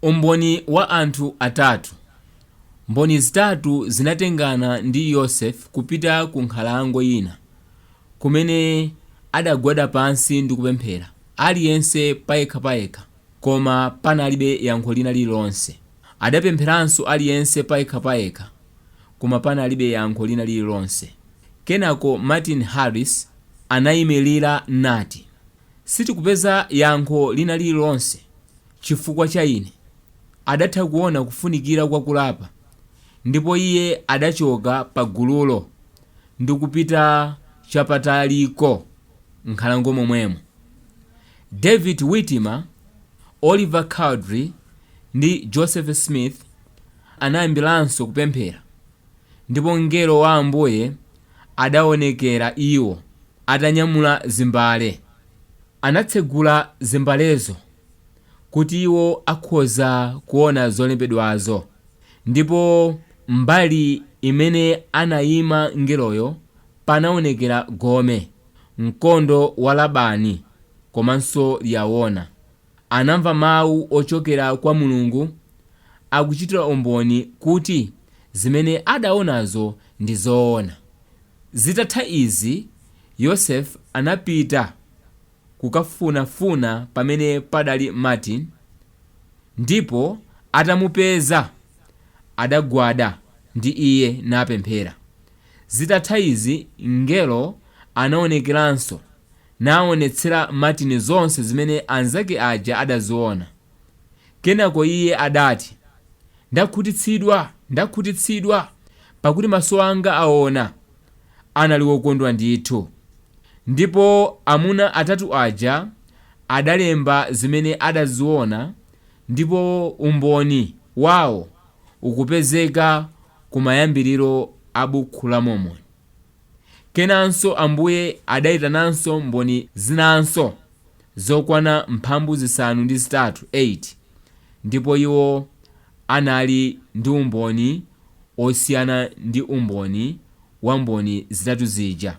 Umboni wa anthu atatu. Mboni zitatu zinatengana ndi Yosefe kupita ku nkhalango ina, kumene adagwada pansi ndi kupemphera, aliyense payekha payekha, koma panalibe yankho lina lililonse. Adapempheranso aliyense payekha payekha, koma panalibe yankho lina lililonse. Kenako Martin Harris anaimirira nati, Sitikupeza yankho lina lililonse. chifukwa cha ine, adatha kuona kufunikira kwa kulapa, ndipo iye adachoka pa gululo ndikupita chapataliko m'nkhalango momwemo. David Whitmer, Oliver Cowdery, ndi Joseph Smith anayambiranso kupemphera, ndipo mngelo wa Ambuye adaonekera iwo atanyamula zimbale. Anatsegula zimbalezo. kuti iwo akhoza kuwona zolembedwazo. Ndipo mbali imene anayima Mngeloyo, panawonekera gome, mkondo wa Labani, komanso Liyahona. Anamva Mawu ochokera kwa Mulungu, akuchitira umboni kuti zimene adawonazo ndi zoona. Zitatha izi, Yosefe anapita. kukafunafuna pamene padali Martin ndipo atamupeza adagwada ndi iye napemphera. Zitatha izi mngelo anaonekeranso naonetsera Martin zonse zimene anzake aja adaziona. Kenako iye adati, Ndakhutitsidwa! Ndakhutitsidwa! Pakuti maso anga aona. anali wokondwa ndithu. Ndipo amuna atatu aja adalemba zimene adaziona ndipo umboni wawo ukupezeka kumayambiriro a Bukhu la Mormoni. Kenanso Ambuye adaitananso mboni zinanso zokwana mphambu zisanu ndi zitatu ndipo iwo anali ndi umboni osiyana ndi umboni wa mboni zitatu zija.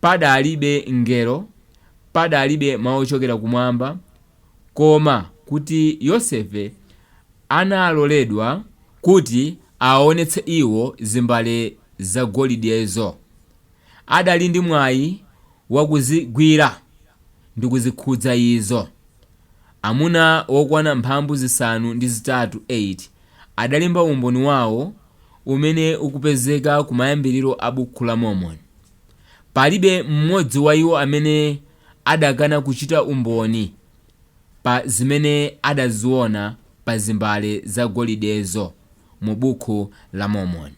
Padalibe mngelo, padalibe mawu ochokera kumwamba, koma kuti Yosefe analoledwa kuti awaonetse iwo zimbale zagolidezo. Adali ndi mwayi wakuzigwira ndikuzikhudza izo. amuna wokwana mphambu zisanu ndi zitatu 8 adalemba umboni wawo umene ukupezeka kumayambiriro a Bukhu la Mormoni. Palibe m'modzi wa iwo amene adakana kuchita umboni pa zimene adaziona pa zimbale zagolidezo mu Bukhu la Mormoni.